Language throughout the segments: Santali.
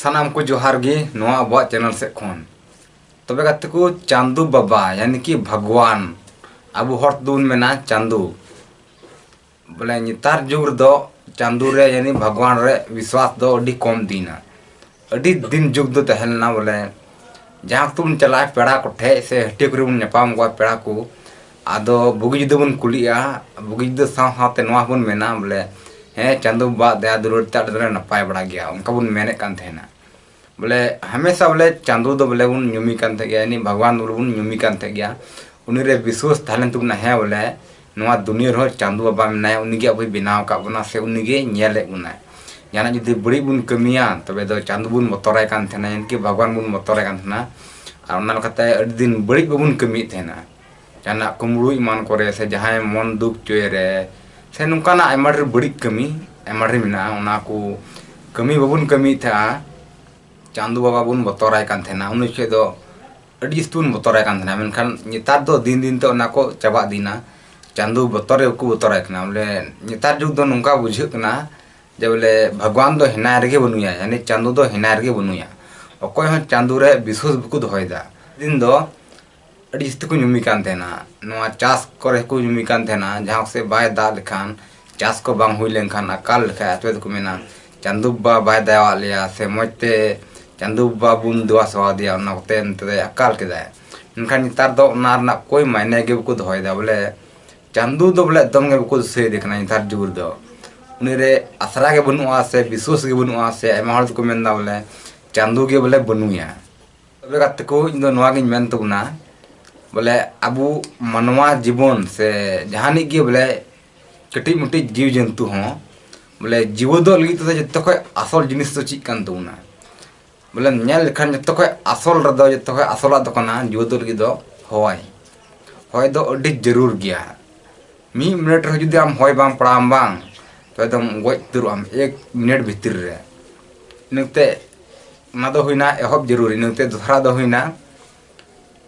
ᱥᱟᱱᱟᱢ ᱠᱚ ᱡᱚᱦᱟᱨ ᱜᱮ ᱱᱚᱣᱟ ᱟᱵᱚᱣᱟᱜ ᱪᱮᱱᱮᱞ ᱥᱮᱫ ᱠᱷᱚᱱ ᱛᱚᱵᱮ ᱜᱟᱛᱮ ᱠᱚ ᱪᱟᱸᱫᱩ ᱵᱟᱵᱟ ᱭᱟᱱᱤ ᱠᱤ ᱵᱷᱟᱜᱽᱣᱟᱱ ᱟᱵᱚ ᱦᱚᱲ ᱛᱮᱫᱚ ᱵᱚᱱ ᱢᱮᱱᱟ ᱪᱟᱸᱫᱩ ᱵᱚᱞᱮ ᱱᱮᱛᱟᱨ ᱡᱩᱜᱽ ᱨᱮᱫᱚ ᱪᱟᱸᱫᱩ ᱨᱮ ᱭᱟᱱᱤ ᱵᱷᱟᱜᱽᱣᱟᱱ ᱨᱮ ᱵᱤᱥᱣᱟᱥ ᱫᱚ ᱟᱹᱰᱤ ᱠᱚᱢ ᱤᱫᱤᱭᱮᱱᱟ ᱟᱹᱰᱤ ᱫᱤᱱ ᱡᱩᱜᱽ ᱫᱚ ᱛᱟᱦᱮᱸ ᱞᱮᱱᱟ ᱵᱚᱞᱮ ᱡᱟᱦᱟᱸ ᱠᱚᱛᱮ ᱵᱚᱱ ᱪᱟᱞᱟᱜᱼᱟ ᱯᱮᱲᱟ ᱠᱚᱴᱷᱮᱱ ᱥᱮ ᱦᱟᱹᱴᱭᱟᱹ ᱠᱚᱨᱮ ᱵᱚᱱ ᱧᱟᱯᱟᱢ ᱠᱚᱣᱟ ᱯᱮᱲᱟ ᱠᱚ ᱟᱫᱚ ᱵᱩᱜᱤ ᱡᱩᱫᱟᱹ ᱵᱚᱱ ᱠᱩᱞᱤᱜᱼᱟ ᱵᱩᱜᱤ ᱡᱩᱫᱟᱹ ᱥᱟᱶ ᱥᱟᱶᱛᱮ ᱱᱚᱣᱟ ᱦᱚᱸᱵᱚᱱ ᱢᱮᱱᱟ ᱵᱚᱞᱮ ᱦᱮᱸ ᱪᱟᱸᱫᱚ ᱵᱟᱵᱟᱣᱟᱜ ᱫᱟᱭᱟ ᱫᱩᱞᱟᱹᱲ ᱛᱮ ᱟᱞᱮ ᱫᱚᱞᱮ ᱱᱟᱯᱟᱭ ᱵᱟᱲᱟ ᱜᱮᱭᱟ ᱚᱱᱠᱟ ᱵᱚᱱ ᱢᱮᱱᱮᱫ ᱠᱟᱱ ᱛᱟᱦᱮᱱᱟ ᱵᱚᱞᱮ ᱦᱟᱢᱮᱥᱟ ᱵᱚᱞᱮ ᱪᱟᱸᱫᱚ ᱫᱚ ᱵᱚᱞᱮ ᱵᱚᱱ ᱧᱩᱢᱮ ᱠᱟᱱ ᱛᱟᱦᱮᱸᱫ ᱜᱮᱭᱟ ᱩᱱᱤ ᱵᱷᱟᱜᱽᱣᱟᱱ ᱵᱚᱞᱮ ᱵᱚᱱ ᱧᱩᱢᱮ ᱠᱟᱱ ᱛᱟᱦᱮᱸᱫ ᱜᱮᱭᱟ ᱩᱱᱤ ᱨᱮ ᱵᱤᱥᱣᱟᱹᱥ ᱛᱟᱦᱮᱸ ᱞᱮᱱ ᱛᱟᱵᱚᱱᱟ ᱦᱮᱸ ᱵᱚᱞᱮ ᱱᱚᱣᱟ ᱫᱩᱱᱤᱭᱟᱹ ᱨᱮᱦᱚᱸ ᱪᱟᱸᱫᱚ ᱵᱟᱵᱟ ᱢᱮᱱᱟᱭᱟ ᱩᱱᱤ ᱜᱮ ᱟᱵᱚᱭ ᱵᱮᱱᱟᱣ ᱟᱠᱟᱫ ᱵᱚᱱᱟ ᱥᱮ ᱩᱱᱤ ᱜᱮᱭ ᱧᱮᱞᱮᱫ ᱵᱚᱱᱟ ᱡᱟᱦᱟᱱᱟᱜ ᱡᱩᱫᱤ ᱵᱟᱹᱲᱤᱡ ᱵᱚᱱ ᱠᱟᱹᱢᱤᱭᱟ ᱛᱚᱵᱮ ᱫᱚ ᱪᱟᱸᱫᱚ ᱵᱚᱱ ᱵᱚᱛᱚᱨᱟᱭ ᱠᱟᱱ ᱛᱟᱦᱮᱱᱟ ᱮᱢᱚᱱᱠᱤ ᱵᱷᱟᱜᱽᱣᱟᱱ ᱵᱚᱱ ᱵᱚᱛᱚᱨᱟᱭ ᱠᱟᱱ ᱛᱟᱦᱮᱱᱟ ᱟᱨ ᱚᱱᱟ ᱞᱮᱠᱟᱛᱮ ᱟᱹᱰᱤ ᱫᱤᱱ ᱵᱟᱹᱲᱤᱡ ᱵᱟᱵᱚᱱ ᱠᱟᱹᱢᱤᱭᱮᱫ ᱛᱟᱦᱮᱱᱟ ᱡᱟᱦᱟᱱᱟᱜ ᱠᱩᱢᱲᱩ ᱮᱢᱟᱱ ᱠᱚᱨᱮ ᱥᱮ ᱡᱟᱦᱟᱸᱭ ᱢᱚᱱ ᱫᱩᱠ ᱪᱚᱭ ᱨᱮ ᱥᱮ ᱱᱚᱝᱠᱟᱱᱟᱜ ᱟᱭᱢᱟ ᱰᱷᱮᱨ ᱵᱟᱹᱲᱤᱡ ᱠᱟᱹᱢᱤ ᱟᱭᱢᱟ ᱰᱷᱮᱨ ᱢᱮᱱᱟᱜᱼᱟ ᱚᱱᱟ ᱠᱚ ᱠᱟᱹᱢᱤ ᱵᱟᱵᱚᱱ ᱠᱟᱹᱢᱤᱭᱮᱫ ᱛᱟᱦᱮᱸᱜᱼᱟ ᱪᱟᱸᱫᱚ ᱵᱟᱵᱟ ᱵᱚᱱ ᱵᱚᱛᱚᱨᱟᱭ ᱠᱟᱱ ᱛᱟᱦᱮᱱᱟ ᱩᱱ ᱡᱚᱠᱷᱮᱡ ᱫᱚ ᱟᱹᱰᱤ ᱡᱟᱹᱥᱛᱤ ᱵᱚᱱ ᱵᱚᱛᱚᱨᱟᱭ ᱠᱟᱱ ᱛᱟᱦᱮᱱᱟ ᱢᱮᱱᱠᱷᱟᱱ ᱱᱮᱛᱟᱨ ᱫᱚ ᱫᱤᱱ ᱫᱤᱱ ᱛᱮ ᱚᱱᱟ ᱠᱚ ᱪᱟᱵᱟ ᱤᱫᱤᱭᱮᱱᱟ ᱪᱟᱸᱫᱚ ᱵᱚᱛᱚᱨ ᱜᱮ ᱵᱟᱠᱚ ᱵᱚᱛᱚᱨᱟᱭ ᱠᱟᱱᱟ ᱵᱚᱞᱮ ᱱᱮᱛᱟᱨ ᱡᱩᱜᱽ ᱫᱚ ᱱᱚᱝᱠᱟ ᱵᱩᱡᱷᱟᱹᱜ ᱠᱟᱱᱟ ᱡᱮ ᱵᱚᱞᱮ ᱵᱷᱟᱜᱽᱣᱟᱱ ᱫᱚ ᱦᱮᱱᱟᱭ ᱨᱮᱜᱮ ᱵᱟᱹᱱᱩᱭᱟ ᱡᱟᱹᱱᱤᱡ ᱪᱟᱸᱫᱚ ᱫᱚ ᱦᱮᱱᱟᱭ ᱨᱮᱜᱮ ᱵᱟᱹᱱᱩᱭᱟ ᱚᱠᱚᱭ ᱦᱚᱸ ᱪᱟᱸᱫᱚ ᱨᱮ ᱵᱤᱥᱥᱟᱹᱥ ᱵᱟᱠᱚ ᱫᱚᱦᱚᱭᱮᱫᱟ ᱫᱤᱱ ᱫᱚ ᱟᱹᱰᱤ ᱡᱟᱹᱥᱛᱤ ᱠᱚ ᱧᱩᱢᱤ ᱠᱟᱱ ᱛᱟᱦᱮᱱᱟ ᱱᱚᱣᱟ ᱪᱟᱥ ᱠᱚᱨᱮ ᱦᱚᱸᱠᱚ ᱧᱩᱢᱤ ᱠᱟᱱ ᱛᱟᱦᱮᱱᱟ ᱡᱟᱦᱟᱸ ᱠᱚᱥᱮᱡ ᱵᱟᱭ ᱫᱟᱜ ᱞᱮᱠᱷᱟᱱ ᱪᱟᱥ ᱠᱚ ᱵᱟᱝ ᱦᱩᱭ ᱞᱮᱱᱠᱷᱟᱱ ᱟᱠᱟᱞ ᱞᱮᱠᱷᱟᱡ ᱟᱯᱮ ᱫᱚᱠᱚ ᱢᱮᱱᱟ ᱪᱟᱸᱫᱚ ᱵᱟᱵᱟ ᱵᱟᱭ ᱫᱟᱭᱟᱣᱟᱜ ᱞᱮᱭᱟ ᱥᱮ ᱢᱚᱡᱽ ᱛᱮ ᱪᱟᱸᱫᱚ ᱵᱟᱵᱟ ᱵᱚᱱ ᱫᱮᱵᱟ ᱥᱮᱵᱟ ᱟᱫᱮᱭᱟ ᱚᱱᱟ ᱠᱚᱛᱮ ᱱᱚᱛᱮ ᱫᱚᱭ ᱟᱠᱟᱞ ᱠᱮᱫᱟᱭ ᱢᱮᱱᱠᱷᱟᱱ ᱱᱮᱛᱟᱨ ᱫᱚ ᱚᱱᱟ ᱨᱮᱱᱟᱜ ᱠᱳᱭ ᱢᱟᱭᱱᱮ ᱜᱮ ᱵᱟᱠᱚ ᱫᱚᱦᱚᱭᱮᱫᱟ ᱵᱚᱞᱮ ᱪᱟᱸᱫᱚ ᱫᱚ ᱵᱚᱞᱮ ᱮᱠᱫᱚᱢ ᱜᱮ ᱵᱟᱠᱚ ᱫᱤᱥᱟᱹᱭᱮᱫᱮ ᱠᱟᱱᱟ ᱱᱮᱛᱟᱨ ᱡᱩᱜᱽ ᱨᱮᱫᱚ ᱩᱱᱤ ᱨᱮ ᱟᱥᱨᱟ ᱜᱮ ᱵᱟᱹᱱᱩᱜᱼᱟ ᱥᱮ ᱵᱤᱥᱥᱟᱹᱥ ᱜᱮ ᱵᱟᱹᱱᱩᱜᱼᱟ ᱥᱮ ᱟᱭᱢᱟ ᱦᱚᱲ ᱫᱚᱠᱚ ᱢᱮᱱᱫᱟ ᱵᱚᱞᱮ ᱪᱟᱸᱫᱚ ᱜᱮ ᱵᱚᱞᱮ ᱵᱟᱹᱱᱩᱭᱟ ᱛᱚᱵᱮ ᱜᱟᱛᱮ ᱠᱚ ᱤᱧ ᱫᱚ ᱱᱚᱣᱟ ᱜᱤᱧ ᱢᱮᱱ ᱛᱟᱵᱚᱱᱟ ᱵᱚᱞᱮ ᱟᱵᱚ ᱢᱟᱱᱣᱟ ᱡᱤᱵᱚᱱ ᱥᱮ ᱡᱟᱦᱟᱱᱤᱡ ᱜᱮ ᱵᱚᱞᱮ ᱠᱟᱹᱴᱤᱡ ᱢᱟᱹᱴᱤᱡ ᱡᱤᱣ ᱡᱚᱱᱛᱩ ᱦᱚᱸ ᱵᱚᱞᱮ ᱡᱤᱣᱟᱹᱫᱚᱜ ᱞᱟᱹᱜᱤᱫ ᱛᱮᱫᱚ ᱡᱚᱛᱚ ᱠᱷᱚᱡ ᱟᱥᱚᱞ ᱡᱤᱱᱤᱥ ᱫᱚ ᱪᱮᱫ ᱠᱟᱱ ᱛᱟᱵᱚᱱᱟ ᱵᱚᱞᱮ ᱧᱮᱞ ᱞᱮᱠᱷᱟᱱ ᱡᱚᱛᱚ ᱠᱷᱚᱡ ᱟᱥᱚᱞ ᱨᱮᱫᱚ ᱡᱚᱛᱚ ᱠᱷᱚᱡ ᱟᱥᱚᱞᱟᱜ ᱫᱚ ᱠᱟᱱᱟ ᱡᱤᱣᱟᱹᱫᱚᱜ ᱞᱟᱹᱜᱤᱫ ᱫᱚ ᱦᱚᱭ ᱦᱚᱭ ᱫᱚ ᱟᱹᱰᱤ ᱡᱟᱹᱨᱩᱲ ᱜᱮᱭᱟ ᱢᱤᱫ ᱢᱤᱱᱤᱴ ᱨᱮᱦᱚᱸ ᱡᱩᱫᱤ ᱟᱢ ᱦᱚᱭ ᱵᱟᱝ ᱯᱟᱲᱟᱣᱟᱢ ᱵᱟᱝ ᱛᱚᱵᱮ ᱫᱚᱢ ᱜᱚᱡ ᱩᱛᱟᱹᱨᱚᱜᱼᱟᱢ ᱮᱠ ᱢᱤᱱᱤᱴ ᱵᱷᱤᱛᱤᱨ ᱨᱮ ᱤᱱᱟᱹᱛᱮ ᱚᱱᱟ ᱫᱚ ᱦᱩᱭᱱᱟ ᱮᱦᱚᱵ ᱡᱟᱹᱨᱩᱨᱤ ᱱᱚᱛᱮ ᱫᱚᱥᱨᱟ ᱫᱚ ᱦᱩᱭᱱᱟ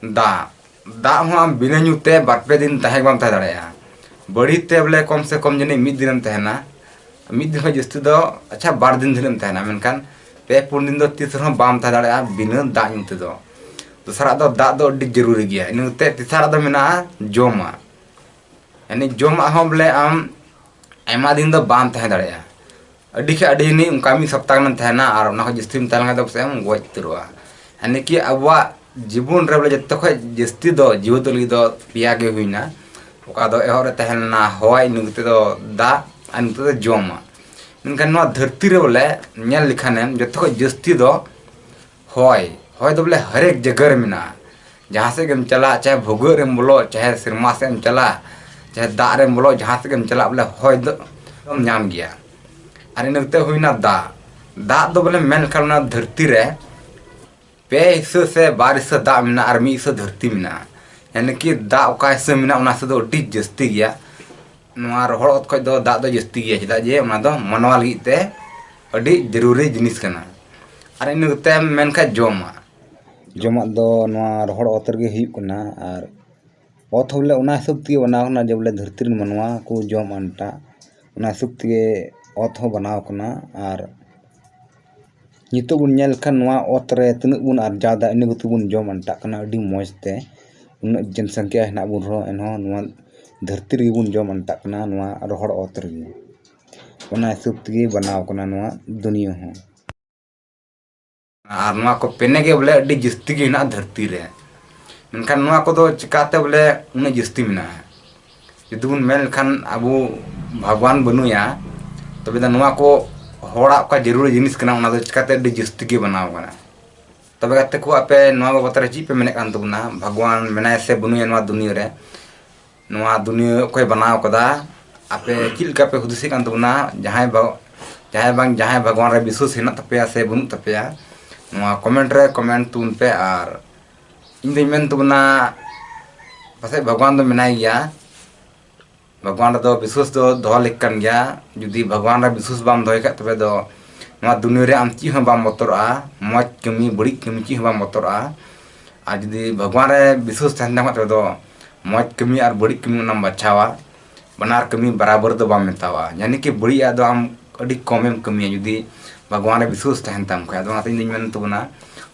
ᱫᱟᱜ ᱫᱟᱜ ᱦᱚᱸ ᱟᱢ ᱵᱤᱱᱟᱹ ᱧᱩ ᱛᱮ ᱵᱟᱨ ᱯᱮ ᱫᱤᱱ ᱛᱟᱦᱮᱸ ᱵᱟᱢ ᱛᱟᱦᱮᱸ ᱫᱟᱲᱮᱭᱟᱜᱼᱟ ᱵᱟᱹᱲᱤ ᱛᱮ ᱵᱚᱞᱮ ᱠᱚᱢ ᱥᱮ ᱠᱚᱢ ᱡᱟᱹᱱᱤᱡ ᱢᱤᱫ ᱫᱤᱱᱮᱢ ᱛᱟᱦᱮᱱᱟ ᱢᱤᱫ ᱫᱤᱱ ᱠᱷᱚᱱ ᱡᱟᱹᱥᱛᱤ ᱫᱚ ᱟᱪᱪᱷᱟ ᱵᱟᱨ ᱫᱤᱱ ᱫᱷᱟᱹᱨᱤᱡ ᱮᱢ ᱛᱟᱦᱮᱱᱟ ᱢᱮᱱᱠᱷᱟᱱ ᱯᱮ ᱯᱩᱱ ᱫᱤᱱ ᱫᱚ ᱛᱤᱥ ᱨᱮᱦᱚᱸ ᱵᱟᱢ ᱛᱟᱦᱮᱸ ᱫᱟᱲᱮᱭᱟᱜᱼᱟ ᱵᱤᱱᱟᱹ ᱫᱟᱜ ᱧᱩ ᱛᱮᱫᱚ ᱫᱚᱥᱨᱟ ᱫᱚ ᱫᱟᱜ ᱫᱚ ᱟᱹᱰᱤ ᱡᱟᱹᱨᱩᱨᱤ ᱜᱮᱭᱟ ᱤᱱᱟᱹ ᱠᱟᱛᱮ ᱛᱮᱥᱟᱨᱟᱜ ᱫᱚ ᱢᱮᱱᱟᱜᱼᱟ ᱡᱚᱢᱟᱜ ᱮᱱᱮ ᱡᱚᱢᱟᱜ ᱦᱚᱸ ᱵᱚᱞᱮ ᱟᱢ ᱟᱭᱢᱟ ᱫᱤᱱ ᱫᱚ ᱵᱟᱢ ᱛᱟᱦᱮᱸ ᱫᱟᱲᱮᱭᱟᱜᱼᱟ ᱟᱹᱰᱤ ᱠᱷᱟᱱ ᱟᱹᱰᱤ ᱱᱤ ᱚᱱᱠᱟ ᱢᱤᱫ ᱥᱚᱯᱛᱟ ᱜᱟᱱᱮᱢ ᱛᱟᱦᱮᱱᱟ ᱟᱨ ᱚᱱᱟ ᱠᱷᱚᱱ ᱡᱟᱹᱥᱛᱤᱢ ᱛᱟᱦᱮᱸ ᱞᱮᱱᱠᱷᱟᱱ ᱫᱚ ᱯᱟᱥᱮᱡ ᱮᱢ ᱜᱚᱡ ᱩᱛᱟᱹᱨᱚᱜᱼᱟ ᱦᱟᱱᱮ ᱠᱤ ᱟᱵᱚᱣᱟᱜ ᱡᱤᱵᱚᱱ ᱨᱮ ᱵᱚᱞᱮ ᱡᱚᱛᱚ ᱠᱷᱚᱱ ᱡᱟᱹᱥᱛᱤ ᱫᱚ ᱡᱤᱣᱮᱫᱚᱜ ᱞᱟᱹᱜᱤᱫ ᱫᱚ ᱯᱮᱭᱟ ᱜᱮ ᱦᱩᱭᱱᱟ ᱚᱠᱟ ᱫᱚ ᱮᱦᱚᱵ ᱨᱮ ᱛᱟᱦᱮᱸ ᱞᱮᱱᱟ ᱦᱚᱭ ᱤᱱᱟᱹ ᱠᱟᱛᱮᱫ ᱫᱚ ᱫᱟᱜ ᱟᱨ ᱱᱤᱛᱚᱜ ᱫᱚ ᱡᱚᱢᱟᱜ ᱢᱮᱱᱠᱷᱟᱱ ᱱᱚᱣᱟ ᱫᱷᱟᱹᱨᱛᱤ ᱨᱮ ᱵᱚᱞᱮ ᱧᱮᱞ ᱞᱮᱠᱷᱟᱱᱮᱢ ᱡᱚᱛᱚ ᱠᱷᱚᱱ ᱡᱟᱹᱥᱛᱤ ᱫᱚ ᱦᱚᱭ ᱦᱚᱭ ᱫᱚ ᱵᱚᱞᱮ ᱦᱟᱨᱮᱠ ᱡᱟᱭᱜᱟ ᱨᱮ ᱢᱮᱱᱟᱜᱼᱟ ᱡᱟᱦᱟᱸ ᱥᱮᱫ ᱜᱮᱢ ᱪᱟᱞᱟᱜ ᱪᱟᱦᱮ ᱵᱷᱩᱜᱟᱹᱜ ᱨᱮᱢ ᱵᱚᱞᱚᱜ ᱪᱟᱦᱮ ᱥᱮᱨᱢᱟ ᱥᱮᱫ ᱮᱢ ᱪᱟᱞᱟᱜ ᱪᱟᱦᱮ ᱫᱟᱜ ᱨᱮᱢ ᱵᱚᱞᱚᱜ ᱡᱟᱦᱟᱸ ᱥᱮᱫ ᱜᱮᱢ ᱪᱟᱞᱟᱜ ᱵᱚᱞᱮ ᱦᱚᱭ ᱫᱚ ᱟᱢ ᱧᱟᱢ ᱜᱮᱭᱟ ᱟᱨ ᱤᱱᱟᱹ ᱠᱟᱛᱮᱫ ᱦᱩᱭᱱᱟ ᱫᱟᱜ ᱫᱟᱜ ᱫᱚ ᱵᱚᱞᱮ ᱢᱮᱱ ᱞᱮᱠᱷᱟᱱ ᱚᱱᱟ ᱫᱷᱟᱹᱨᱛᱤ ᱨᱮ ᱯᱮ ᱦᱤᱥᱟᱹ ᱥᱮ ᱵᱟᱨ ᱦᱤᱥᱟᱹ ᱫᱟᱜ ᱢᱮᱱᱟᱜᱼᱟ ᱟᱨ ᱢᱤᱫ ᱦᱤᱥᱟᱹ ᱫᱷᱟᱹᱨᱛᱤ ᱢᱮᱱᱟᱜᱼᱟ ᱮᱱᱮᱠᱤ ᱫᱟᱜ ᱚᱠᱟ ᱦᱤᱥᱟᱹ ᱢᱮᱱᱟᱜᱼᱟ ᱚᱱᱟ ᱦᱤᱥᱟᱹ ᱫᱚ ᱟᱹᱰᱤ ᱡᱟᱹᱥᱛᱤ ᱜᱮᱭᱟ ᱱᱚᱣᱟ ᱨᱚᱦᱚᱲ ᱚᱛ ᱠᱷᱚᱡ ᱫᱚ ᱫᱟᱜ ᱫᱚ ᱡᱟᱹᱥᱛᱤ ᱜᱮᱭᱟ ᱪᱮᱫᱟᱜ ᱡᱮ ᱚᱱᱟ ᱫᱚ ᱢᱟᱱᱣᱟ ᱞᱟᱹᱜᱤᱫ ᱛᱮ ᱟᱹᱰᱤ ᱡᱟᱹᱨᱩᱨᱤ ᱡᱤᱱᱤᱥ ᱠᱟᱱᱟ ᱟᱨ ᱤᱱᱟᱹ ᱠᱟᱛᱮᱢ ᱢᱮᱱ ᱠᱷᱟᱡ ᱡᱚᱢᱟᱜ ᱡᱚᱢᱟᱜ ᱫᱚ ᱱᱚᱣᱟ ᱨᱚᱦᱚᱲ ᱚᱛ ᱨᱮᱜᱮ ᱦᱩᱭᱩᱜ ᱠᱟᱱᱟ ᱟᱨ ᱚᱛ ᱦᱚᱸ ᱵᱚᱞᱮ ᱚᱱᱟ ᱦᱤᱥᱟᱹᱵ ᱛᱮᱜᱮ ᱵᱮᱱᱟᱣ ᱠᱟᱱᱟ ᱡᱮ ᱵᱚᱞᱮ ᱫᱷᱟᱹᱨᱛᱤ ᱨᱮᱱ ᱢᱟᱱᱣᱟ ᱠᱚ ᱡᱚᱢ ᱟᱱᱴᱟᱜ ᱚᱱᱟ ᱦᱤᱥᱟᱹᱵ ᱛᱮᱜᱮ ᱚᱛ ᱦᱚᱸ ᱵᱮᱱᱟᱣ ᱠᱟᱱᱟ ᱟᱨ ᱱᱤᱛᱚᱜ ᱵᱚᱱ ᱧᱮᱞ ᱞᱮᱠᱷᱟᱱ ᱱᱚᱣᱟ ᱚᱛ ᱨᱮ ᱛᱤᱱᱟᱹᱜ ᱵᱚᱱ ᱟᱨᱡᱟᱣᱫᱟ ᱤᱱᱟᱹ ᱠᱚᱛᱮ ᱵᱚᱱ ᱡᱚᱢ ᱟᱱᱴᱟᱜ ᱠᱟᱱᱟ ᱟᱹᱰᱤ ᱢᱚᱡᱽ ᱛᱮ ᱩᱱᱟᱹᱜ ᱡᱚᱱ ᱥᱚᱝᱠᱷᱟ ᱦᱮᱱᱟᱜ ᱵᱚᱱ ᱨᱮᱦᱚᱸ ᱮᱱᱦᱚᱸ ᱱᱚᱣᱟ ᱫᱷᱟᱹᱨᱛᱤ ᱨᱮᱜᱮ ᱵᱚᱱ ᱡᱚᱢ ᱟᱱᱴᱟᱜ ᱠᱟᱱᱟ ᱱᱚᱣᱟ ᱨᱚᱦᱚᱲ ᱚᱛ ᱨᱮᱜᱮ ᱚᱱᱟ ᱦᱤᱥᱟᱹᱵ ᱛᱮᱜᱮ ᱵᱮᱱᱟᱣ ᱠᱟᱱᱟ ᱱᱚᱣᱟ ᱫᱩᱱᱤᱭᱟᱹ ᱦᱚᱸ ᱟᱨ ᱱᱚᱣᱟ ᱠᱚ ᱯᱮᱱᱮ ᱜᱮ ᱵᱚᱞᱮ ᱟᱹᱰᱤ ᱡᱟᱹᱥᱛᱤ ᱜᱮ ᱦᱮᱱᱟᱜᱼᱟ ᱫᱷᱟᱹᱨᱛᱤ ᱨᱮ ᱢᱮᱱᱠᱷᱟᱱ ᱱᱚᱣᱟ ᱠᱚᱫᱚ ᱪᱤᱠᱟᱛᱮ ᱵᱚᱞᱮ ᱩᱱᱟᱹᱜ ᱡᱟᱹᱥᱛᱤ ᱢᱮᱱᱟᱜᱼᱟ ᱡᱩᱫᱤ ᱵᱚᱱ ᱢᱮᱱ ᱞᱮᱠᱷᱟᱱ ᱟᱵᱚ ᱵᱷᱟᱜᱽᱣᱟᱱ ᱵᱟᱹᱱᱩᱭᱟ ᱛᱚᱵᱮ ᱫᱚ ᱱᱚᱣᱟ ᱠᱚ ᱦᱚᱲᱟᱜ ᱚᱠᱟ ᱡᱟᱹᱨᱩᱲ ᱡᱤᱱᱤᱥ ᱠᱟᱱᱟ ᱚᱱᱟ ᱫᱚ ᱪᱤᱠᱟᱛᱮ ᱟᱹᱰᱤ ᱡᱟᱹᱥᱛᱤ ᱜᱮ ᱵᱮᱱᱟᱣ ᱠᱟᱱᱟ ᱛᱚᱵᱮ ᱜᱟᱛᱮ ᱠᱚ ᱟᱯᱮ ᱱᱚᱣᱟ ᱵᱟᱵᱚᱛ ᱨᱮ ᱪᱮᱫ ᱯᱮ ᱢᱮᱱᱮᱫ ᱠᱟᱱ ᱛᱟᱵᱚᱱᱟ ᱵᱷᱟᱜᱽᱣᱟᱱ ᱢᱮᱱᱟᱭᱟ ᱥᱮ ᱵᱟᱹᱱᱩᱭᱟ ᱱᱚᱣᱟ ᱫᱩᱱᱤᱭᱟᱹ ᱨᱮ ᱱᱚᱣᱟ ᱫᱩᱱᱤᱭᱟᱹ ᱚᱠᱚᱭ ᱵᱮᱱᱟᱣ ᱠᱟᱫᱟ ᱟᱯᱮ ᱪᱮᱫ ᱞᱮᱠᱟ ᱯᱮ ᱦᱩᱫᱤᱥᱮᱫ ᱠᱟᱱ ᱛᱟᱵᱚᱱᱟ ᱡᱟᱦᱟᱸᱭ ᱵᱟ ᱡᱟᱦᱟᱸᱭ ᱵᱟᱝ ᱡᱟᱦᱟᱸᱭ ᱵᱷᱟᱜᱽᱣᱟᱱ ᱨᱮ ᱵᱤᱥᱥᱟᱹᱥ ᱦᱮᱱᱟᱜ ᱛᱟᱯᱮᱭᱟ ᱥᱮ ᱵᱟᱹᱱᱩᱜ ᱛᱟᱯᱮᱭᱟ ᱱᱚᱣᱟ ᱠᱚᱢᱮᱱᱴ ᱨᱮ ᱠᱚᱢᱮᱱᱴ ᱛᱟᱵᱚᱱ ᱯᱮ ᱟᱨ ᱤᱧ ᱫᱩᱧ ᱢᱮᱱ ᱛᱟᱵᱚᱱᱟ ᱯᱟᱥᱮᱡ ᱵᱷᱟᱜᱽᱣᱟᱱ ᱫᱚ ᱢᱮᱱᱟᱭ ᱜᱮᱭᱟ ᱵᱷᱟᱜᱽᱣᱟᱱ ᱨᱮᱫᱚ ᱵᱤᱥᱣᱟᱥ ᱫᱚ ᱫᱚᱦᱚ ᱞᱮᱠ ᱠᱟᱱ ᱜᱮᱭᱟ ᱡᱩᱫᱤ ᱵᱷᱟᱜᱽᱣᱟᱱ ᱨᱮ ᱵᱤᱥᱣᱟᱥ ᱵᱟᱢ ᱫᱚᱦᱚᱭ ᱠᱷᱟᱡ ᱛᱚᱵᱮ ᱫᱚ ᱱᱚᱣᱟ ᱫᱩᱱᱤᱭᱟᱹ ᱨᱮ ᱟᱢ ᱪᱮᱫ ᱦᱚᱸ ᱵᱟᱢ ᱵᱚᱛᱚᱨᱚᱜᱼᱟ ᱢᱚᱡᱽ ᱠᱟᱹᱢᱤ ᱵᱟᱹᱲᱤᱡ ᱠᱟᱹᱢᱤ ᱪᱮᱫ ᱦᱚᱸ ᱵᱟᱢ ᱵᱚᱛᱚᱨᱚᱜᱼᱟ ᱟᱨ ᱡᱩᱫᱤ ᱵᱷᱟᱜᱽᱣᱟᱱ ᱨᱮ ᱵᱤᱥᱣᱟᱥ ᱛᱟᱦᱮᱱ ᱛᱟᱢ ᱠᱷᱟᱡ ᱛᱚᱵᱮ ᱫᱚ ᱢᱚᱡᱽ ᱠᱟᱹᱢᱤ ᱟᱨ ᱵᱟᱹᱲᱤᱡ ᱠᱟᱹᱢᱤ ᱚᱱᱟᱢ ᱵᱟᱪᱷᱟᱣᱟ ᱵᱟᱱᱟᱨ ᱠᱟᱹᱢᱤ ᱵᱟᱨᱟᱵᱚᱨ ᱫᱚ ᱵᱟᱢ ᱢᱮᱛᱟᱣᱟᱜᱼᱟ ᱡᱟᱱᱤ ᱠᱤ ᱵᱟᱹᱲᱤᱡᱟᱜ ᱫᱚ ᱟᱢ ᱟᱹᱰᱤ ᱠᱚᱢᱮᱢ ᱠᱟᱹᱢᱤᱭᱟ ᱡᱩᱫᱤ ᱵᱷᱟᱜᱽᱣᱟᱱ ᱨᱮ ᱵᱤᱥᱣᱟᱥ ᱛᱟᱦᱮᱱ ᱛᱟᱢ ᱠᱷᱟᱡ ᱟᱫᱚ ᱚᱱᱟᱛᱮ ᱤᱧ ᱫᱚᱧ ᱢᱮᱱ ᱛᱟᱵᱚᱱᱟ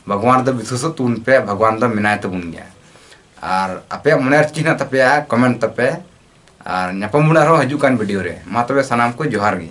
ᱵᱷᱟᱜᱽᱣᱟᱱ ᱨᱮᱫᱚ ᱵᱤᱥᱣᱟᱥᱚᱜ ᱛᱟᱵᱚᱱ ᱯᱮ ᱵᱷᱟᱜᱽᱣᱟᱱ ᱫᱚ ᱢᱮᱱᱟᱭ ᱛᱟᱵᱚᱱ ᱜᱮᱭᱟ ᱟᱨ ᱟᱯᱮᱭᱟᱜ ᱢᱚᱱᱮ ᱨᱮ ᱪᱮᱫ ᱦᱮᱱᱟᱜ ᱛᱟᱯᱮᱭᱟ ᱠᱚᱢᱮᱱᱴ ᱛᱟᱯᱮ ᱟᱨ ᱧᱟᱯᱟᱢ ᱵᱚᱱ ᱟᱨᱦᱚᱸ ᱦᱤᱡᱩᱜ ᱠᱟᱱ ᱵᱷᱤᱰᱤᱭᱳ ᱨᱮ ᱢᱟ ᱛᱚᱵᱮ ᱥᱟᱱᱟᱢ ᱠᱚ ᱡᱚᱦᱟᱨ ᱜᱮ